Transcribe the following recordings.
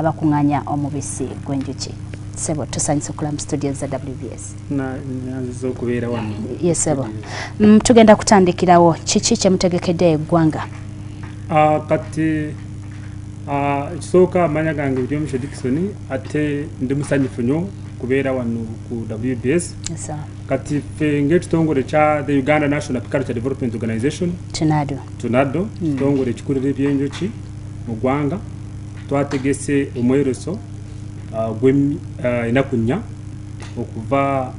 abakunganya omubisi gwenjuki sebo tusanyusa okula mu studio za wbs yesebo mm, tugenda kutandikirawo kiki kyemutegekedde eggwanga ah, kati ah, ekisooka amanya gange byomisho dikisoni ate ndi musanyufu nyo kubeera wano ku wbs kati ffe ngaekitongole kya the uganda national piculture development organization tunado mm. kitongole ekikulira ebyenjoki mu ggwanga twategese omweroso uh, gwenaku uh, nnya okuva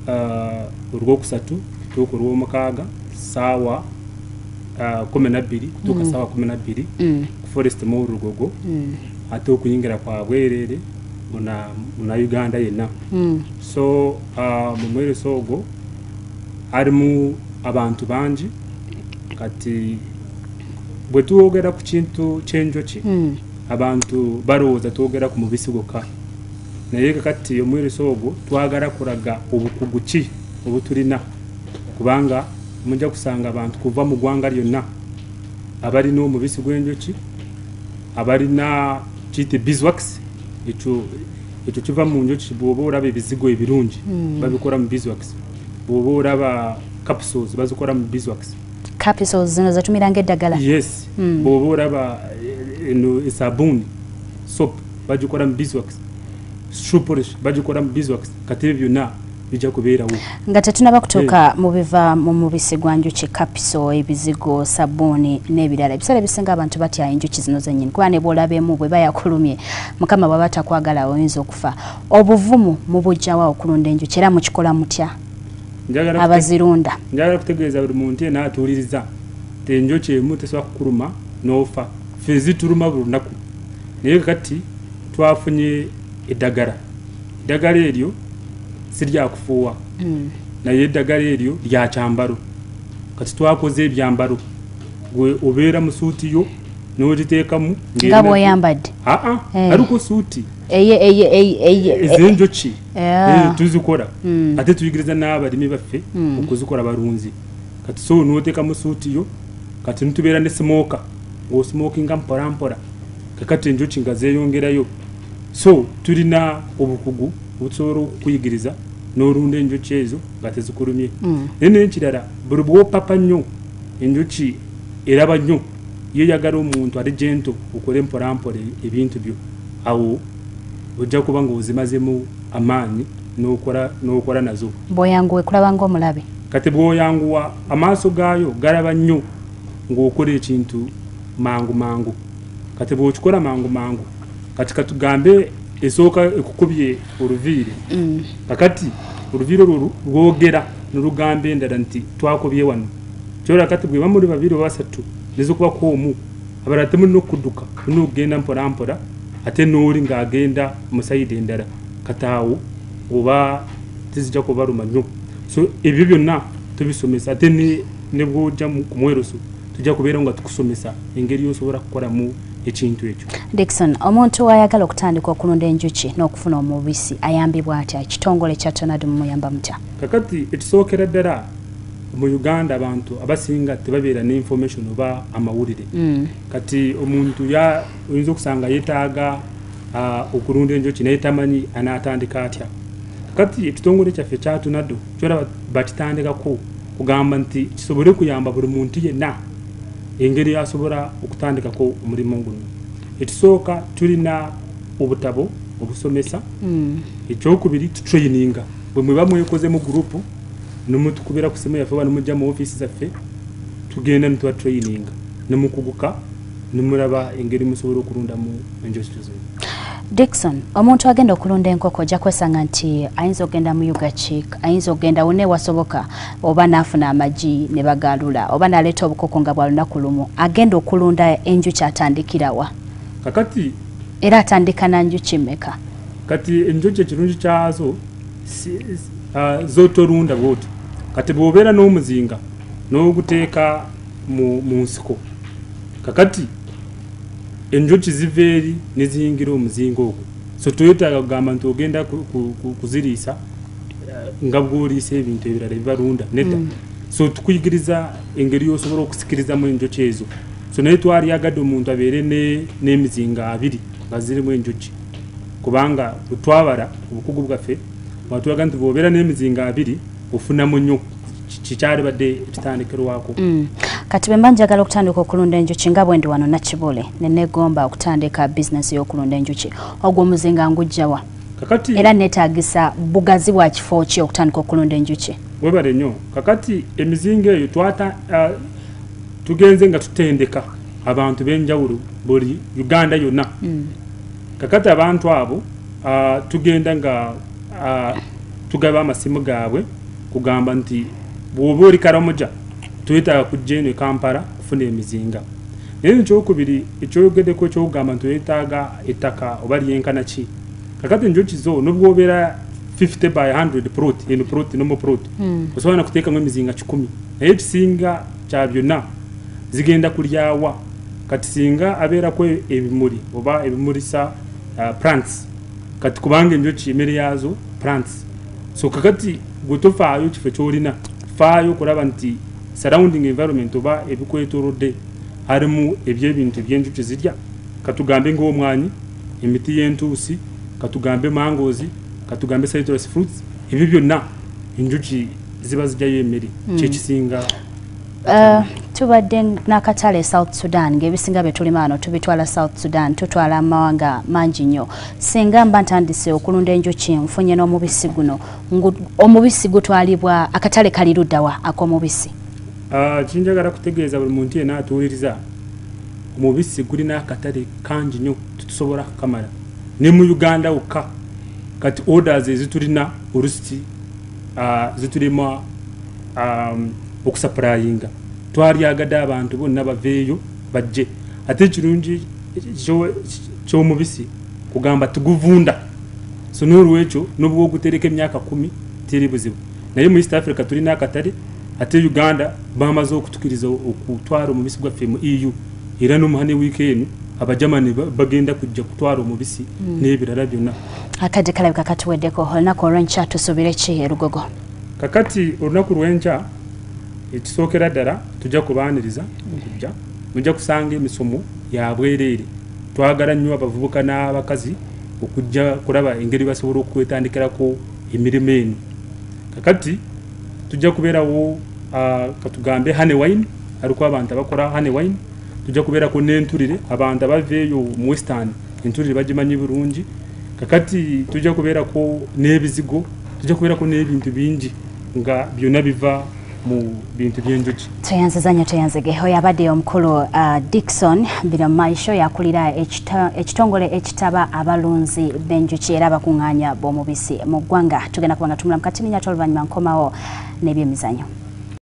uh, olwokusatu tuuka olwomukaaga saawa kumi nabbiri kutuuka mm. saawa kumi nabbiri mm. ku forest mu lugogo mm. ate okuyingira kwa bwereere muna uganda yenna so mu mweroso ogwo alimu abantu bangi kati bwe twogera ku kintu ky'enjoki hmm. abantu balowooza twogera ku mubisi gwokka naye kati omwiriso ogwo twagala kulaga obukugu ki obutulina kubanga mujja kusanga abantu kuva mu ggwanga lyonna abalina omubisi gw'enjoki abalina kiyite biswax ekyo ekyo kiva mu njoki bwoba olaba ebizigo ebirungi hmm. babikola mu biswax bwoba olaba capsules bazikora mu beeswax capsules zino zatumira ngedagala yes mm. boba oraba eh, eno esabuni soap bagikora mu beeswax shoe polish bagikora mu beeswax kati ebyo byonna bijja kubeerawo nga tetunaba kutuuka eh. mu biva mu mubisi gwa njuki kapiso ebizigo sabuuni n'ebirala ebiseera ebisinga abantu batya enjuki zino zenyini kuba ne bwolaba emu bwe bayakulumye mukama bwaba takwagala oyinza okufa obuvumu mubujjawa okulunda enjuki era mukikola mutya abazirunda njagala kutegeeza buli muntu yena atuuliriza ti enjoki emu tesobola kukuluma n'ofa fe zituluma buli lunaku naye kati twafunye eddagala eddagala eryo siryakufuuwa hmm. naye eddagala eryo lya kyambalo kati twakoze ebyambalo gwe obeera mu suuti yo n'ogiteekamu nga bwoyambadde aa ah, ah, eh. aliko suuti ezenjoki Eh, tuzikora hmm. ate tuyigiriza n'abalimi baffe hmm. okuzikora balunzi kati so notekamu suuti yo kati nitubeera ne smoka ngaosmokinga mporampora kakati enjoki nga zeyongerayo so tulina obukugu obutusobola okukuyigiriza n'olunda enjoki ezo nga tezikulumye hmm. naye naye ekirala buli bwopapa nnyo enjoki eraba nnyo yeyagala omuntu ali gento okole mporampora ebintu byo awo Ojja kuba ng'ozimazemu amaanyi n'okola n'okola nazo. Bw'oyanguwa ekulaba ng'omulabe. Kati bw'oyanguwa amaaso gaayo galaba nnyo ng'okola ekintu mangu mangu. Kati bw'okikola mangu mangu, kati katugambe esooka ekukubye oluviiri. Mm. Kakati oluviiri olwo lwogera ne lugamba endala nti twakubye wano. Kyolaba kati bwe bamuli babiri oba basatu, nezikuba ku omu. abala ate mulina okuduka mulina okugenda mpolampola ate nooli ngaagenda musayidi endala kataawo oba tizija kubaluma nnyo so ebyo byonna tubisomesa ate nebwoja kumweruso tujja kubeera nga tukusomesa engeri yosobola kukolamu ekintu ekyo dikson omuntu wayagala okutandika okulunda enjuki n'okufuna omubisi ayambibwa atya ekitongole kya tonad mumuyamba mutya kakati ekisookera ddala mu uganda abantu abasinga tebabeera ne information oba amawulire mm. kati omuntu oyinza okusanga yetaaga uh, okulunda enjoki naye tamanyi anaatandika atya kati ekitongole kyaffe kyatunado kyolaba bakitandikako kugamba nti kisobole kuyamba buli muntu yenna engeri asobola okutandikako omulimu guno ekisooka tulina obutabo obusomesa mm. ekyokubiri tutraininga bwe mweba mwekozemu gurupu nemutukubira ku simu yaffe oba nemujja mu ofiisi zaffe tugenda netuba traininga nemukuguka nemulaba engeri musobola okulundamu enjosito zino dikson omuntu agenda okulunda enkoko ojja kwesanga nti ayinza okugenda mu ugachik ayinza okugenda wona ewasoboka oba naafuna amagi ne bagaalula oba naleeta obukoko nga bwa lunaku lumu agenda okulunda enjuki atandikirawa kakati era atandika na njuki meka kati enjuki ekirungi kyazo ah, zotolunda bwoti kati bwobeera n'omuzinga n'oguteeka mu nsiko kakati enjuki ziva eri neziyingira omuzinga ogwo so toyetaaga kugamba nti ogenda kuziriisa eh, nga bwoliisa ebintu ebirala ebibalunda nedda mm. so tukuyigiriza engeri yosobola okusikirizamu enjuki ezo so naye twalyagadde omuntu abeere n'emizinga abiri nga zirimu enjuki kubanga bwetwabala obukugu bwaffe watulaga nti bwobeera n'emizinga abiri ofunamu nnyo kikyali badde ekitandikirwako mm. kati bwe mba njagala okutandika okulunda enjuki nga bwendi wano nakibule nenegomba okutandika bizinesi y'okulunda enjuki ogwo omuzinga ngujjawa kakati era netagisa bugazi bwa kifo ki okutandika okulunda enjuki webale nnyo kakati emizinga eyo twata uh, tugenze nga tutendeka abantu benjawulo buli uganda yonna mm. kakati abantu abo uh, tugenda nga uh, tugaba amasimu gaabwe kugamba nti bwoba oli karamoja twetaaga kujja eno ekampala kufuna emizinga naye ekyokubiri ekyoyogedeko ekyokugamba nti wetaaga ettaka oba lyenkana ki kakati njokizo nobwobeera 50 by 100 prot eno prot nomo prot hmm. osobola nakuteekamu emizinga kikumi naye ekisinga kya byonna zigenda kulyawa kati singa abeerako ebimuli oba ebimulisa uh, plants kati kubanga enjoki emere yaazo plants so kakati gwe tofaayo kifo kyolina faayo okulaba nti surrounding environment oba ebikwetolodde harimu ebyebintu ebyenjuki zirya katugambe ngaomwanyi emiti yentuusi katugambe mangozi katugambe citrus fruits ebyo byonna enjuki ziba zijjayo emere hmm. kyekisinga Uh, tubadde nakatale south sudan ngaebisinga byetulima ano tubitwala south sudan tutwala amawanga mangi nnyo singa mba ntandise okulunda enjuki nfunye n'omubisi guno omubisi gutwalibwa akatale kali luddawa ak'omubisi uh, kinjagala kutegeeza buli muntu yena atuwuliriza omubisi gulina akatale kangi nnyo tutusobola kukamala ne mu uganda wokka kati orders ezitulina olusiti ah, zitulema um, okusapurayinga twalyagade abantu bonna baveeyo bajje ate ekirungi kyomubisi kugamba tuguvunda so nolwekyo nobwa ogutereka emyaka kumi teri buzibu naye mu east africa tulina akatale ate uganda bamaze okutukiriza okutwara omubisi gwaffe mu eu era nomuhane wiiki eno abajamani bagenda kujja kutwara omubisi hmm. n'ebirala byonna akadde kalabika katuweddeko olunaku olwenkya tusuubire ki erugogo kakati olunaku lwenkya ekisookera ddala tujja kubaaniriza okujja mujja kusanga emisomo yabwereere twagala nnyo abavubuka n'abakazi okujja kulaba engeri basobola okwetandikirako emirimu eno kakati tujja kubeerawo ah, katugambe honey wine aliko abantu abakola honey wine tujja kubeerako n'entulire abantu abava eyo mu western entulire bagimanyi bulungi kakati tujja kubeerako n'ebizigo tujja kubeerako n'ebintu bingi nga byonna biva mu bintu by'enjuki tweyanziza nnyo tweyanzige oyo abadde omukulu uh, dikson bino maisho yakulira ekitongole ekitaba abalunzi b'enjuki era abakuŋŋaanya b'omubisi mu ggwanga tugenda kuba nga tumulamu kati ninyata oluvannyuma nkomawo n'ebyemizanyo